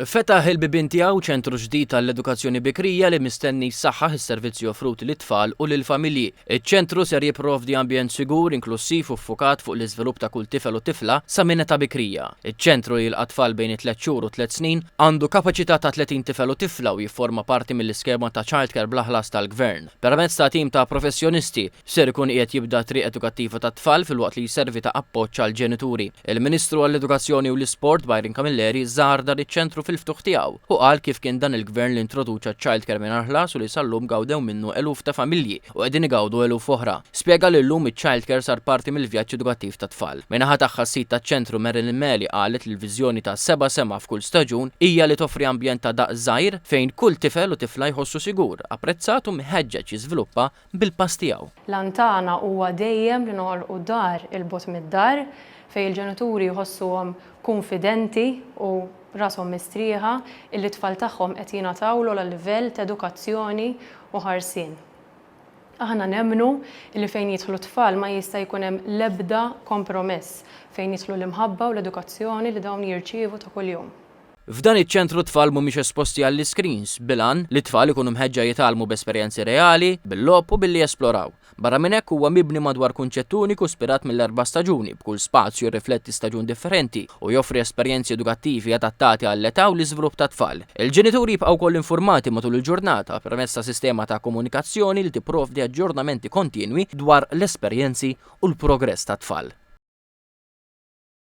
Fetaħ il-bibien tiegħu ċentru ġdid għall-edukazzjoni bikrija li mistenni jsaħħaħ is-servizzi offruti lit-tfal u lill-familji. Iċ-ċentru ser jipprovdi ambjent sigur, inklussiv u ffukat fuq l-iżvilupp ta' kull tifel u tifla sa minn età bikrija. Iċ-ċentru li jilqa' tfal bejn it-tliet xhur u t-tliet snin għandu kapaċità ta' 30 tifel u tifla u jifforma parti mill-iskema ta' childcare bla ħlas tal-Gvern. Permezz ta' tim ta' professjonisti, Ser ikun qiegħed jibda t-triq edukattiva tat-tfal filwaqt li jservi ta' appoġġ għall-ġenituri. Il-Ministru għall-Edukazzjoni u l-Isport Byron Camilleri żar dan iċ-ċentru fil-ftuħ tiegħu u qal kif kien dan il-Gvern li introduċa ċ-childcare mingħajr ħlas u li sal-lum gawdew minnu eluf ta' familji u qegħdin igawdu eluf oħra. Spjega li llum iċ-childcare sar parti mill-vjaġġ edukattiv tat-tfal. Min-naħa tagħha s-sid taċ-ċentru Marilyn Meli qalet li l-viżjoni ta' seba' sema f'kull staġun hija li toffri ambjent ta' daqs żgħir fejn kull tifel u tifla jħossu sigur, apprezzat u mħeġġeġ jiżviluppa bil-pass tiegħu. L-għan tagħna huwa dejjem li noħolqu dar 'il bogħod mid-dar, fejn il-ġenituri jħossuhom kunfidenti u rashom mistrieħa illi t-tfal tagħhom qed jingħataw l-ogħla livell t'edukazzjoni u ħarsien. Aħna nemmnu illi fejn jidħlu t-tfal ma jista' jkun hemm l-ebda kompromess fejn jidħlu l-imħabba u l-edukazzjoni li dawn jirċievu ta' kuljum. F'dan iċ-ċentru t-tfal mhumiex esposti għall-iskrins, bil-għan li t-tfal ikunu mħeġġa jitgħallmu b'esperjenzi reali, bil-logħob u billi jesploraw. Barra minn hekk huwa mibni madwar kunċett uniku spirat mill-erba' staġuni, b'kull spazju jirrifletti staġun differenti u joffri esperjenzi edukattivi adattati għall-età u l-iżvlupp tat-tfal. Il-ġenituri jibqgħu wkoll informati matul il-ġurnata permezz ta' sistema ta' komunikazzjoni li tipprovdi aġġornamenti kontinwi dwar l-esperjenzi u l-progress tat-tfal.